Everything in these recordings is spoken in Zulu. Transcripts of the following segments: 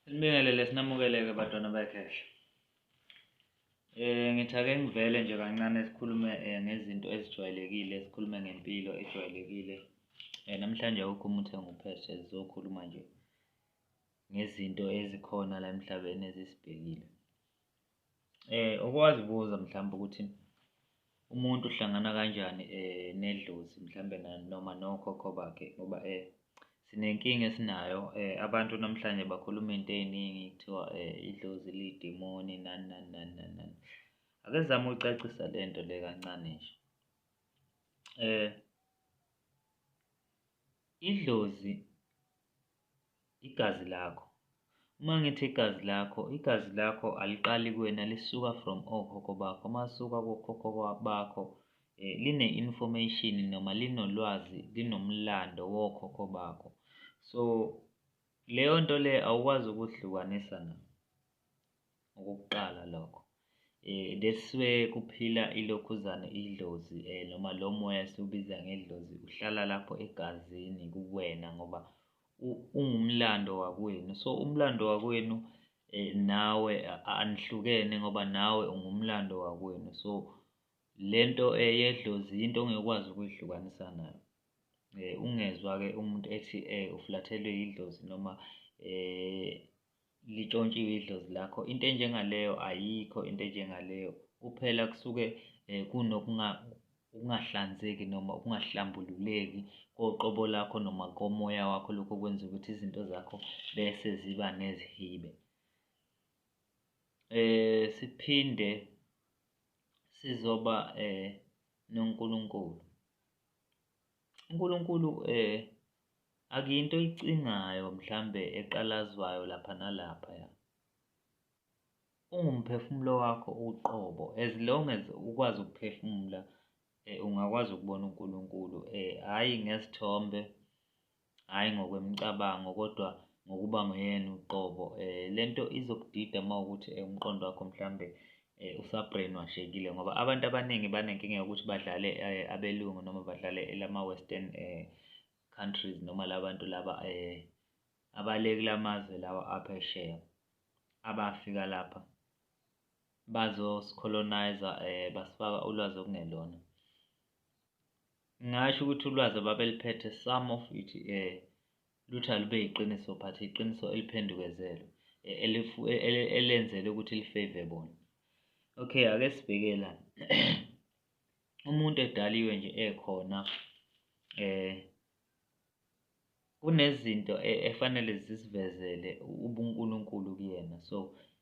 Sibingelele sinamukeleke badwana bekhehla. Eh ngithi ake ngivele nje kancane sikhulume eh, ngezinto ezijwayelekile, sikhulume ngempilo ejwayelekile. Eh namhlanje awukho umuntu engupheshe sizokhuluma nje ngezinto ezikhona la emhlabeni ezisibhekile. Eh okwazibuza mhlawumbe ukuthi umuntu uhlangana kanjani eh nedlozi mhlawumbe noma nokhokho bakhe ngoba eh sinenkinga esinayo eh abantu namhlanje bakhuluma into eziningi kuthiwa eh idlozi lidimoni nani nani nani nani nani ake zama ucacisa lento le kancane nje eh idlozi igazi lakho uma ngithi igazi lakho igazi lakho aliqali kuwena lisuka from okhokho bakho masuka kokhokho bakho eh, line information noma linolwazi linomlando wokhokho bakho so leyo nto le awukwazi ukuhlukanisa na ngokokuqala lokho eh leswe kuphila ilokhuzane idlozi eh noma lo moya esiwubiza ngedlozi uhlala lapho egazini kuwena ngoba ungumlando wakwenu so umlando wakwenu eh nawe anihlukene ngoba nawe ungumlando wakwenu so lento eyedlozi eh, into ongekwazi ukuyihlukanisa nayo eh ungezwa ke umuntu ethi eh uflathelwe idlozi noma eh litshontshiwe idlozi lakho into enjengaleyo ayikho into enjengaleyo kuphela kusuke um kunokungahlanzeki noma ukungahlambululeki koqobo lakho noma komoya wakho lokho kwenza ukuthi izinto zakho bese ziba nezihibe eh siphinde sizoba eh noNkulunkulu uNkulunkulu eh Akuyinto oyicingayo mhlambe eqalazwayo lapha nalaphaya. Ungumphefumulo wakho uqobo as long as ukwazi ukuphefumula eh, ungakwazi ukubona uNkulunkulu eh hayi ngesithombe hayi ngokwemicabango kodwa ngokuba nguyena uqobo eh lento izokudida mawukuthi eh, umqondo wakho mhlambe Eh, usabrainwashekile ngoba abantu abaningi banenkinga yokuthi badlale eh, abelungu noma badlale elama-western eh, countries noma labantu laba eh, abale kula mazwe lawa aphesheya abafika lapha bazosicolonizer eh, basifaka ulwazi okungelona ngasho ukuthi ulwazi ababeliphethe some of it eh, Lutho alube yiqiniso but iqiniso eliphendukezelwe e- elifu- e- ele- elenzele ukuthi lifave bona okay ake sibheke la umuntu edaliwe nje ekhona eh kunezinto e- efanele zisivezele ubunkulunkulu kuyena so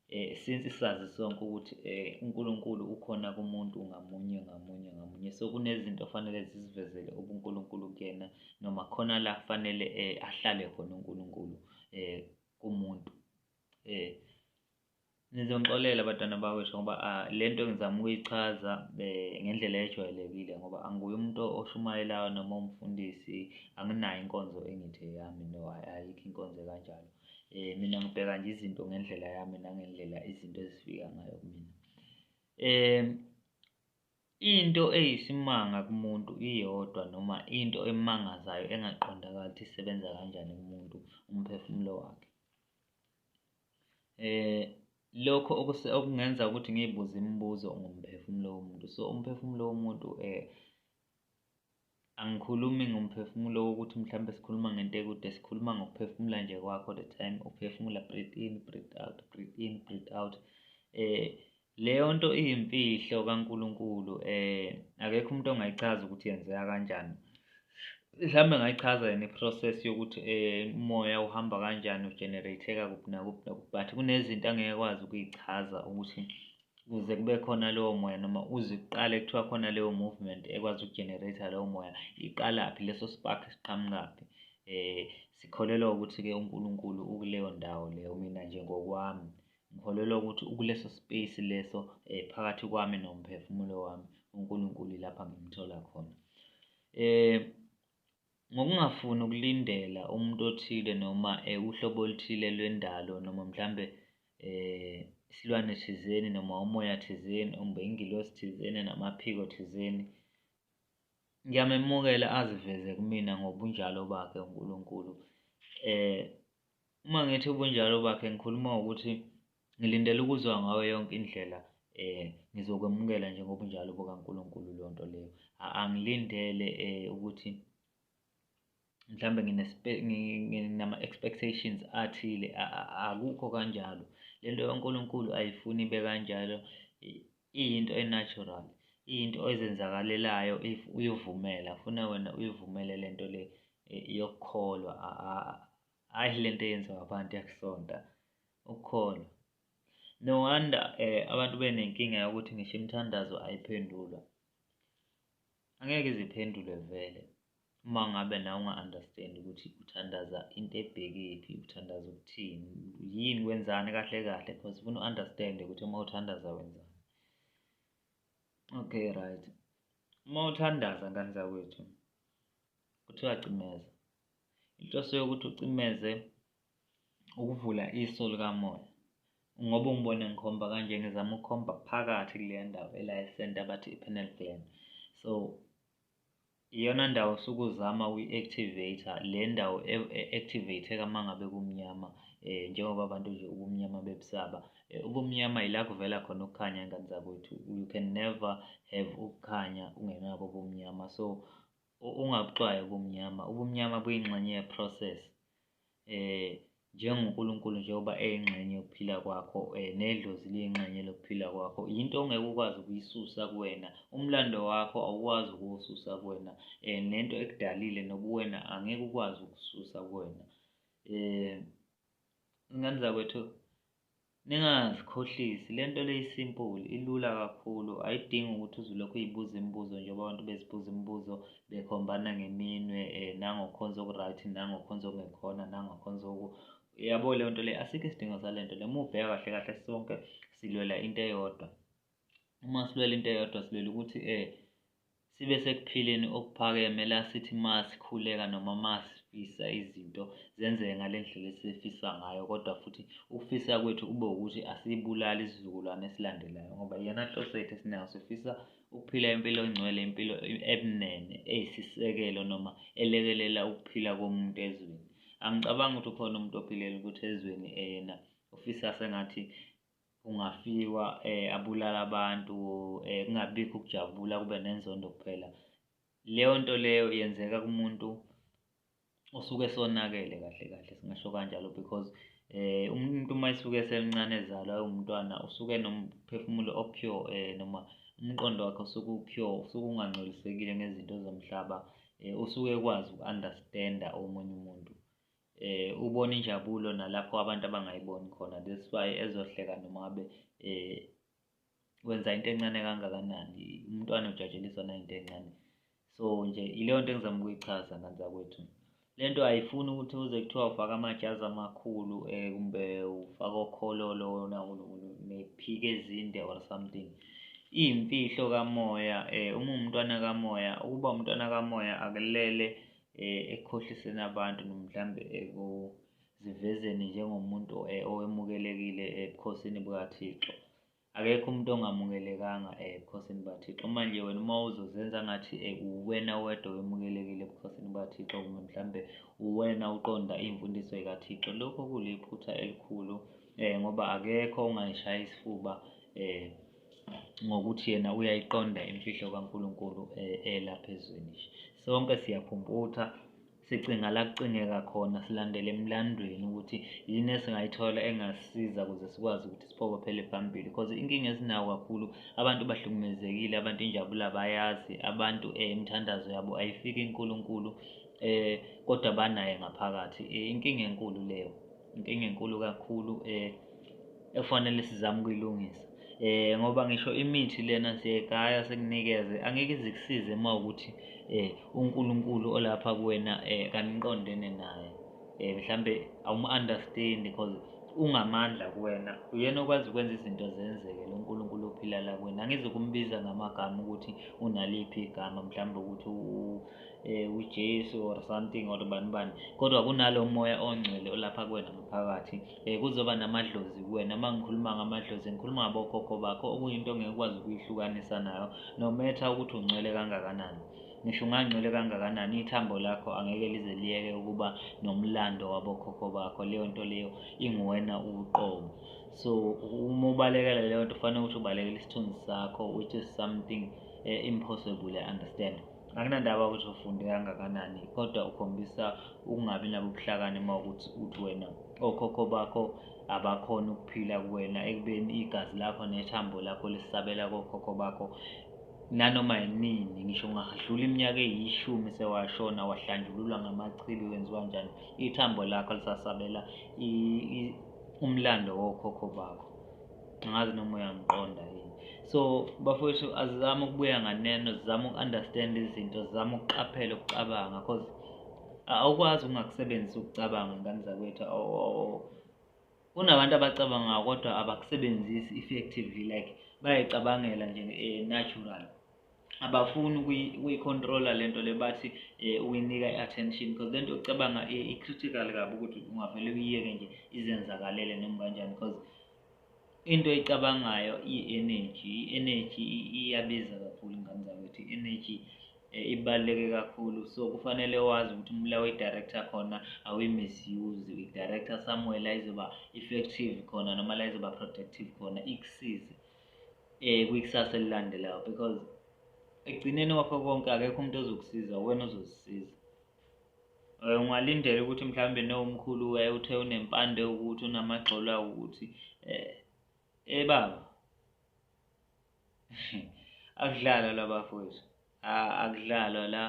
eh since sazi sonke ukuthi eh uNkulunkulu ukhona kumuntu ngamunye ngamunye ngamunye so kunezinto ofanele zizivezele ubuNkulunkulu kuyena noma khona la kufanele eh ahlale khona uNkulunkulu eh kumuntu eh nizongixolela abantwana bakwethu ngoba ah, le nto ngizama ukuyichaza eh, ngendlela ejwayelekile ngoba anguye umuntu oshumayelayo noma umfundisi anginayo inkonzo engithi eyami no ayikho inkonzo kanjalo Eh mina ngibheka nje izinto ngendlela yami nangendlela izinto ezifika ngayo kumina. Eh into eyisimanga kumuntu iyodwa noma into emangazayo engaqondakali ukuthi isebenza kanjani kumuntu umphefumulo wakhe. Eh lokho okungenza ukuthi ngiyibuze imibuzo ngomphefumulo womuntu. So umphefumulo womuntu eh Angikhulumi ngomphefumulo wokuthi mhlawumbe sikhuluma ngento ekude sikhuluma ngokuphefumula nje kwakho the time uphefumula breathe in breathe out breathe in breathe out eh leyo nto iyimfihlo kaNkuluNkulu eh akekho umuntu ongayichaza ukuthi yenzeka kanjani mhlawumbe ngayichaza yena i-process yokuthi eh umoya uhamba kanjani ugenerateka kuphi nakuphi nakuphi but kunezinto angeke kwazi ukuyichaza ukuthi ukuze kube khona lowo moya noma uze uqale kuthiwa khona leyo movement ekwazi ukugenerate lowo moya iqalaphi leso spark siqhamukaphi eh sikholelwa ukuthi ke uNkulunkulu ukuleyo ndawo leyo mina nje ngokwami ngikholelwa ukuthi ukuleso space leso eh phakathi kwami nomphefumulo wami uNkulunkulu lapha ngimthola khona eh Ngokungafuni ukulindela umuntu othile noma uhlobo oluthile lwendalo noma mhlambe isilwane thizeni noma umoya thizeni umbe ingilosi thizeni namaphiko thizeni. Ngiyamemukela aziveze kumina ngobunjalo bakhe uNkulunkulu. Uma ngithi ubunjalo bakhe ngikhuluma ngokuthi Ngilindele ukuzwa ngayo yonke indlela eh ngizokwemukela nje ngobunjalo bukaNkulunkulu lonto leyo angilindele eh ukuthi mhlambe ngine nginama expectations athile akukho kanjalo lento yoNkulunkulu ayifuni bekanjalo iyinto enatural iyinto ezenzakalelayo if uyovumela funa wena uyivumele lento le eh, yokukholwa Hhayi le nto eyenziwa abantu yakusonta ukukholwa. No wonder eh abantu benenkinga yokuthi ngisho imithandazo ayiphendulwa. Angeke iziphendule vele uma ngabe nawe unga-understand ukuthi uthandaza into ebhekephi, uthandaza ukuthini, yini wenzani kahle kahle because ufuna u-understand ukuthi uma uthandaza wenzani. Okay right. Uma uthandaza ngane zakwethu kuthiwa cimeza. inhloso yokuthi ucimeze ukuvula iso likamoya ngoba ungibone ngikhomba kanje ngizama ukukhomba phakathi kule ndawo elayisenta abathi i-penal gland so iyona ndawo osuke uzama uyi-activate le ndawo e-, e-activateka uma ngabe kumnyama um njengoba abantu nje ubumnyama bebusaba eh, ubumnyama yila kuvela khona ukukhanya ngane zakwethu you can never have ukukhanya ungenabo ubumnyama so ungabucwayi ubumnyama ubumnyama buyingxenye yeprocess eh njengoNkulunkulu njengoba eyingxenye yokuphila kwakho eh nedlozi liyingxenye lokuphila kwakho yinto ongeke ukwazi ukuyisusa kuwena umlando wakho awukwazi ukuwususa kuwena eh nento ekudalile nobuwena angeke ukwazi ukususa kuwena eh ingane zakwethu Ningazikhohlisi, le nto le isimpuli, ilula kakhulu, ayidingi ukuthi uze ulokhu uyibuza imibuzo njengoba abantu bezibuza imibuzo bekhombana ngeminwe um nangokhonza oku-right nangokhonza okungekhona nangokhonza oku yabo leyo nto le asikho isidingo sale nto le uma ubheka kahle kahle sonke silwela into eyodwa. uma silwela into eyodwa silwela ukuthi um sibe sekuphileni okuphakeme la sithi uma sikhuleka noma uma sifisa izinto zenzeke ngale ndlela esifisa ngayo kodwa futhi ukufisa kwethu kube ukuthi asiyibulali isizukulwane esilandelayo ngoba iyona nhloso yethu esinayo sifisa ukuphila impilo engcwele impilo ebunene eyisisekelo noma elekelela ukuphila komuntu ezweni angicabangi ukuthi ukhona umuntu ophilela ukuthi ezweni eyena ufisa sengathi kungafikwa abulala abantu kungabikho ukujabula kube nenzondo kuphela leyo nto leyo yenzeka kumuntu osuke sonakele kahle kahle singasho kanjalo because eh umuntu uma esuke esemncane ezalwa ewumntwana usuke nomphefumulo opure eh noma umqondo wakhe usuke upure usuke ungangcolisekile ngezinto zomhlaba eh usuke ekwazi uku-understanda omunye umuntu eh ubona injabulo nalapho abantu abangayiboni khona that's why ezohleka noma ngabe eh wenza into encane kangakanani umntwana ujatsheliswa nayinto encane so nje ileyo nto engizama ukuyichaza nganzakwethu le nto ayifuni ukuthi uze kuthiwa ufaka amajazi amakhulu um kumbe ufaka okhololo nephike ezinde or something iyimfihlo kamoya um uma umntwana kamoya ukuba umntwana kamoya akulele eh, ekukhohliseni abantu nomhlambe ekuzivezeni njengomuntu eh, owemukelekile ebukhosini bukaThixo akekho umuntu ongamukelekanga eh, ebukhosini bukaThixo manje wena uma uzozenza ngathi eh, uwena wedwa wemukelekile ebukhosini bukaThixo kumbe mhlambe uwena uqonda imfundiso ekaThixo lokho kuliphutha elikhulu eh, ngoba akekho ongayishaya isifuba eh, ngokuthi yena uyayiqonda imfihlo kaNkulunkulu eh, elapha ezweni sonke siyaphumputha sicinga la kucingeka khona silandele emlandweni ukuthi yini esingayithola engasisiza ukuze sikwazi ukuthi siphokophele phambili because inkinga esinayo kakhulu abantu bahlukumezekile abantu injabulo abayazi abantu um imithandazo yabo ayifiki inkulunkulu um eh, kodwa banaye ngaphakathi eh, inkinga enkulu leyo inkinga enkulu kakhulu um ekufanele sizame ukuyilungisa eh ngoba ngisho imithi lena siyegaya sekunikeze angeke izikusize uma ukuthi eh uNkulunkulu olapha kuwena eh kaniqondene naye eh mhlambe awum understand because ungamandla kuwena uyena okwazi ukwenza izinto zenzeke lo Nkulunkulu ophila la kuwena angizokumbiza ngamagama ukuthi unaliphi igama mhlambe ukuthi eh uJesu or something or bani bani kodwa kunalo moya ongcwele olapha kuwena ngaphakathi eh kuzoba namadlozi kuwena uma ngikhuluma ngamadlozi ngikhuluma ngabokhokho bakho okuyinto ngeke ukwazi ukuyihlukanisa nayo no matter ukuthi ungcwele kangakanani ngisho ungangcwele kangakanani ithambo lakho angeke lize liyeke ukuba nomlando wabokhokho bakho leyo nto leyo inguwena uqobo so uma ubalekela leyo nto fanele ukuthi ubalekela isithunzi sakho which is something eh, impossible i understand Anginandaba ukuthi ufunde kangakanani kodwa ukhombisa ukungabi nabubuhlakani uma ukuthi uthi wena okhokho bakho abakhona ukuphila kuwena ekubeni igazi lakho nethambo lakho lisabela kokhokho bakho nanoma yinini ngisho ungadlula iminyaka eyishumi sewashona wahlanjululwa ngamachibi wenziwa njani ithambo lakho lisasabela umlando wokhokho bakho angazi noma uyangiqonda yini so bafowethu azizame ukubuya nganeno zizame uku-understand izinto zizame ukuqaphela ukucabanga because awukwazi ukungakusebenzisa ukucabanga ingane zakwethu kunabantu abacabangayo kodwa abakusebenzisi effectively like bayayicabangela nje eh, natural abafuni ukuyi-controller le nto le bathi um uyinika i-attention because le nto yokucabanga i-critical kabi ukuthi ungavele uyiyeke nje izenzakalele noma kanjani because into eyicabangayo i-energy i-energy iyabiza kakhulu ingane zakwethu i-energy eh, ibaluleke kakhulu so kufanele wazi ukuthi umla uyi-director khona awuyi-misuse uyi-director somewhere la izoba effective khona noma la izoba protective khona ikusize eh kwikusasa elilandelayo because ekugcineni kwakho konke akekho umuntu ozokusiza wena ozozisiza eh, ungalindela ukuthi mhlawumbe nowumkhulu waye uthe unempande ukuthi unamagxolo awukuthi eh ebaba eh, akudlala labafowethu akudlalwa la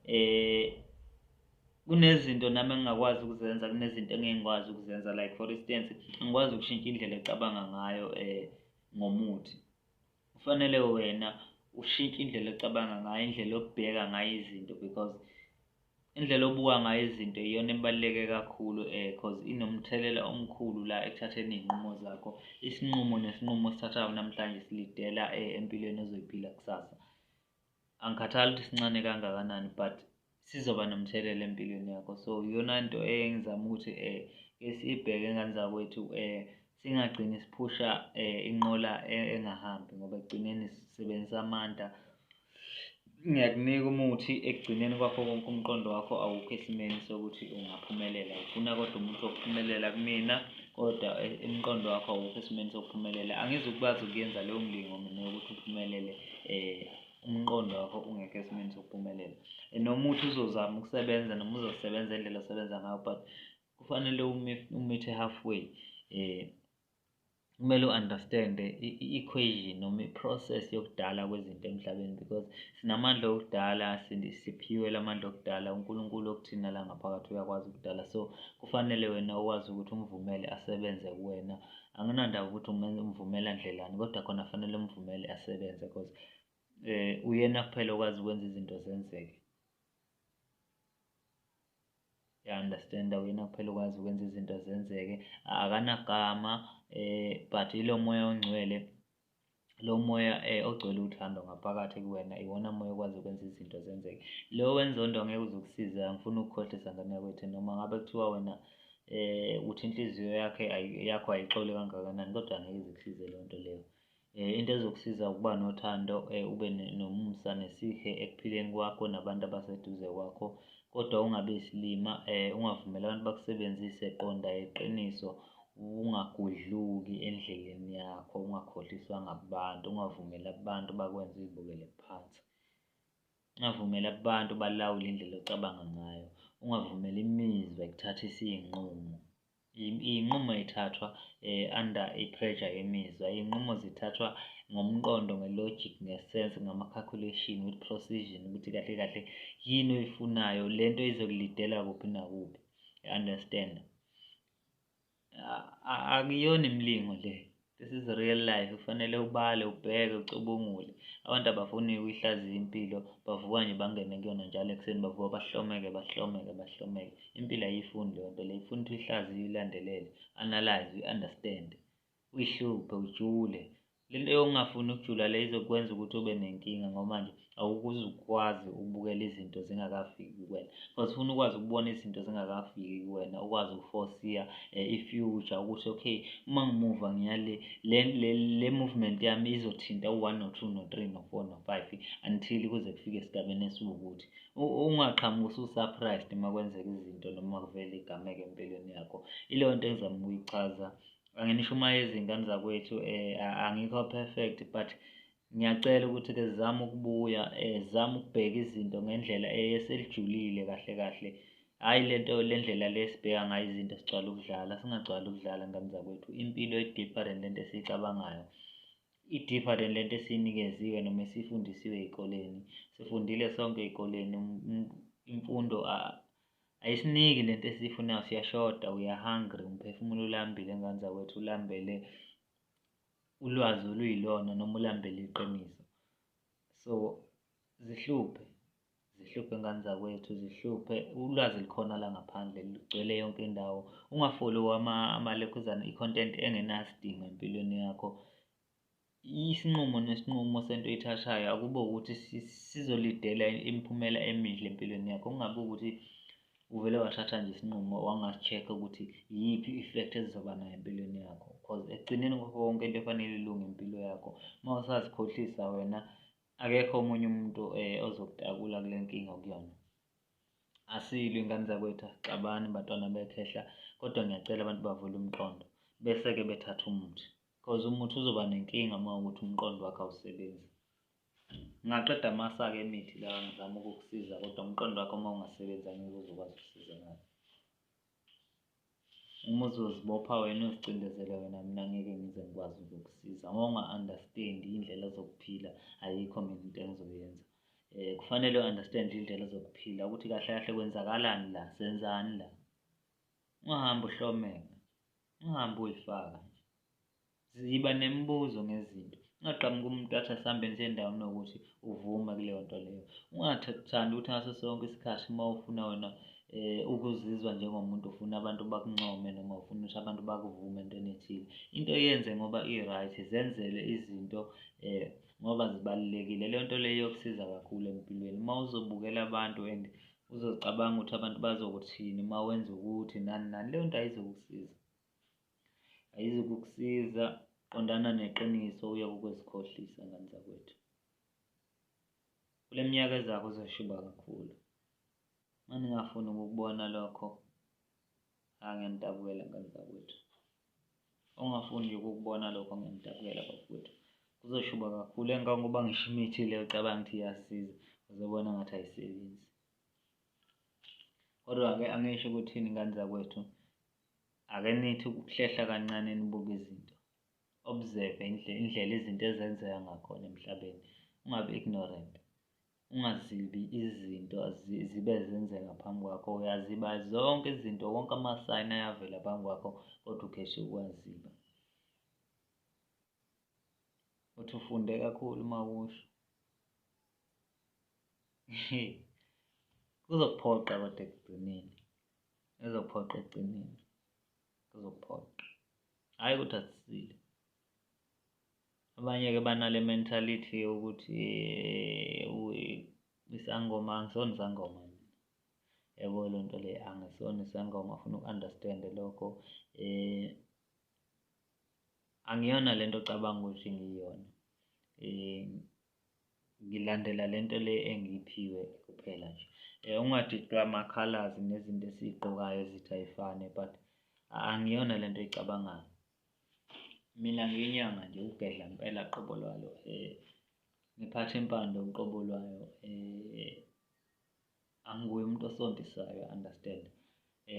eh kunezinto nami engingakwazi ukuzenza kunezinto engeke ngikwazi ukuzenza like for instance ngikwazi ukushintsha indlela ecabanga ngayo eh ngomuthi kufanele wena ushintshe indlela ocabanga ngayo indlela obheka ngayo izinto because indlela obuka ngayo izinto iyona ebaluleke kakhulu eh cause inomthelela omkhulu la ekuthatheni izinqumo zakho isinqumo nesinqumo osithathayo namhlanje silidela eh, empilweni ozoyiphila kusasa angikhathali ukuthi sincane kangakanani but sizoba nomthelela empilweni yakho so iyona nto engizama ukuthi um eh, ke siyibheke engane zakwethu um eh, singagcini siphusha um inqola e, engahambi ngoba ekugcineni sisebenzisa amandla ngiyakunika umuthi ekugcineni kwakho konke umqondo wakho awukho esimeni sokuthi ungaphumelela ufuna kodwa umuntu okuphumelela kumina kodwa e, umqondo wakho awukho esimeni sokuphumelela angizukubazi ukuyenza leyo mlingo mina yokuthi uphumelele um umqondo wakho ungekho esimeni sokuphumelela noma uthi uzozama ukusebenza noma uzosebenza indlela osebenza ngayo but kufanele umithe halfway um kumele u-understand-e i-equation noma i-process yokudala kwezinto emhlabeni because sinamandla okudala siphiwe la mandla okudala unkulunkulu okuthina la ngaphakathi uyakwazi ukudala so kufanele wena ukwazi ukuthi umvumele asebenze kuwena anginandaba ukuthi umvumela ndlelani kodwa khona fanele umvumele asebenze cause eh uyena kuphela okwazi ukwenza izinto zenzeke ya understand uyena kuphela okwazi ukwenza izinto zenzeke akanagama eh but ilo moya ongcwele lo moya eh, ogcwele uthando ngaphakathi kuwena iwona moya okwazi ukwenza izinto zenzeke lo wenza onto angeke uzokusiza angifuni ukukhohlisa ngane yakwethu noma ngabe kuthiwa wena eh uthi inhliziyo yakhe yakho ayixole kangakanani kodwa angeke zikusize leyo nto leyo eh into ezokusiza ukuba nothando eh ube nomusa nesihe ekuphileni kwakho nabantu abaseduze kwakho kodwa ungabe isilima eh ungavumeli abantu bakusebenzise qonda iqiniso Ungagudluki endleleni yakho, ungakhohliswa ngabantu, ungavumeli abantu bakwenze uyibukele phansi. Ungavumeli abantu balawule indlela ocabanga ngayo, ungavumeli imizwa ikuthathise iy'nqumo. Iy'nqumo y'thathwa um under i-pressure yemizwa, iy'nqumo zithathwa ngomqondo, nge-logic, nge-sense, ngama-calculation, with precision ukuthi kahle kahle yini oyifunayo, le nto izokulidela kuphi nakuphi, you understand? akuyona imlingo le this is real life kufanele ubale ubheke ucubungule abantu abafuni ukuyihlaziya impilo bavuka nje bangene kuyona njalo ekuseni bavuka bahlomeke bahlomeke bahlomeke impilo ayiyifuni leyo nto leyo ifuna ukuthi uyihlaziye uyilandelele analyze uyi-understand uyihluphe ujule lento yokungafuni ukujula le izokwenza ukuthi ube nenkinga ngoba manje awukuze ukwazi ukubukela izinto zingakafiki kuwena because ufuna ukwazi ukubona izinto zingakafiki kuwena ukwazi ukuforsiya eh, i-future ukuthi okay uma ngimuva ngiyale le, le, le movement yami izothinta u-one no-two no-three no-four no-five until kuze kufike esigabeni esiwukuthi ungaqhamuki usu-surprised uma kwenzeka izinto noma kuvele igameke empilweni yakho ileyo nto engizama ukuyichaza anginisho uma izingane zakwethu um angikho perfect but ngiyacela ukuthi ke zizame ukubuya um zizame ukubheka izinto ngendlela eselijulile kahle kahle hhayi le nto le ndlela le esibheka ngayo izinto sigcwala ukudlala singagcwala ukudlala ngane zakwethu impilo i-different le nto esiyicabangayo i-different le nto esiyinikeziwe noma esiyifundisiwe ey'koleni sifundile sonke ey'koleni imfundo Ayisiniki lento esiyifunayo siyashoda we are hungry umphefumulo ulambile ngane zakwethu ulambele ulwazi oluyilona noma ulambele iqiniso so zihluphe zihluphe ngane zakwethu zihluphe ulwazi likhona la ngaphandle ligcwele yonke indawo ungafoli amakhuzana i-content engenasidingo empilweni yakho isinqumo nesinqumo sento oyithathayo akube ukuthi sizolidela imiphumela emihle empilweni yakho kungabe ukuthi uvele wathatha nje isinqumo wangasi-check-a ukuthi yiphi i-effect ezizoba nayo empilweni yakho cause ekugcineni kwakho konke into efanele ilunge impilo yakho uma usazikhohlisa wena akekho omunye umuntu um eh, ozokutakula kule nkinga okuyona asilwe ingane zakwethu axabani bantwana bekhehla kodwa ngiyacela abantu bavule umqondo bese-ke bethatha umuthi Cause umuthi uzoba nenkinga uma ukuthi umqondo wakhe awusebenzi. Ngingaqeda amasa-ke emithi la ngizama ukukusiza kodwa umqondo wakho uma ungasebenzi angeke uzokwazi ukusiza ngayo. Uma uzozibopha wena uzicindezele wena mina ngeke ngize ngikwazi ukukusiza. Uma unga-understand indlela zokuphila ayikho mina into engizoyenza. Eh kufanele u-understand indlela zokuphila ukuthi kahle kahle kwenzakalani la, senzani la. Ungahambi uhlomela. ungahambi uyifaka nje ziba nemibuzo ngezinto ungaqhamuka umuntu athi asihambe nje endaweni yokuthi uvume kuleyo nto leyo ungathandi ukuthi ngaso sonke isikhathi uma ufuna wena eh ukuzizwa njengomuntu ufuna abantu bakuncome noma ufuna ukuthi abantu bakuvume entweni ethile into yenze ngoba i-right zenzele izinto eh ngoba zibalulekile leyo nto leyo yokusiza kakhulu empilweni uma uzobukela abantu and uzozicabanga ukuthi abantu bazokuthini uma wenza ukuthi nani nani leyo nto ayizokusiza ayizokukusiza qondana neqiniso uye kukwezikhohlisa ngani zakwethu kule minyaka ezakho uzoshuba kakhulu uma ningafuni ukukubona lokho Ah ngiyanidabukela ngane zakwethu. Ongafuni nje ukukubona lokho ngiyanidabukela bakwethu. Kuzoshuba kakhulu engangoba ngisho imithi le ucabanga ukuthi iyasiza uzobona ngathi ayisebenzi. Kodwa-ke angisho ukuthini ngane zakwethu ake nithi ukuhlehla kancane nibuke izinto. Observe indlela izinto ezenzeka ngakhona emhlabeni. Ungabi ignorant. Ungazibi izinto zibe zenzeka phambi kwakho, uyaziba zonke izinto, wonke amasayini ayavela phambi kwakho, kodwa ukheshe ukuwaziba. Uthi ufunde kakhulu uma usho. Kuzokuphoqa kodwa ekugcineni, kuzokuphoqa ekugcineni, kuzokuphoqa. Hhayi ukuthi asisile. Abanye-ke banale mentality yokuthi isangoma angisona isangoma yabo loo nto leyo angisona isangoma afuna uku-understande lokho um angiyona le nto ocabanga ukuthi ngiyona um ngilandela le nto le engiyiphiwe kuphela nje um ungadidwa amakhalazi nezinto esiyigqokayo ezithi ayifane but angiyona le nto oyicabangayo. Mina ngiyinyanga nje ukugedla ngempela qobo lwalo ngiphathe impande uqobo lwayo angiwuye umuntu osontisayo understand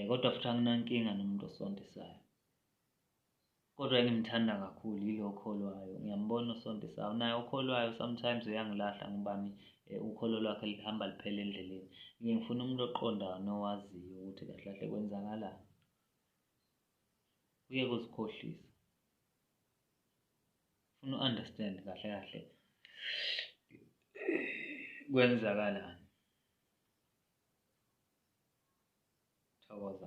kodwa futhi anginankinga nomuntu osontisayo. Kodwa engimthanda kakhulu yilo okholwayo ngiyambona osontisayo naye okholwayo sometimes uyangilahle angibani ukholo lwakhe luhamba luphela endleleni. Ngiye ngifune umuntu oqondayo nowaziyo ukuthi kahle kahle kwenzakalani. uyeke uzikhohlisa funa u-understand kahle kahle kwenzakalani thokoza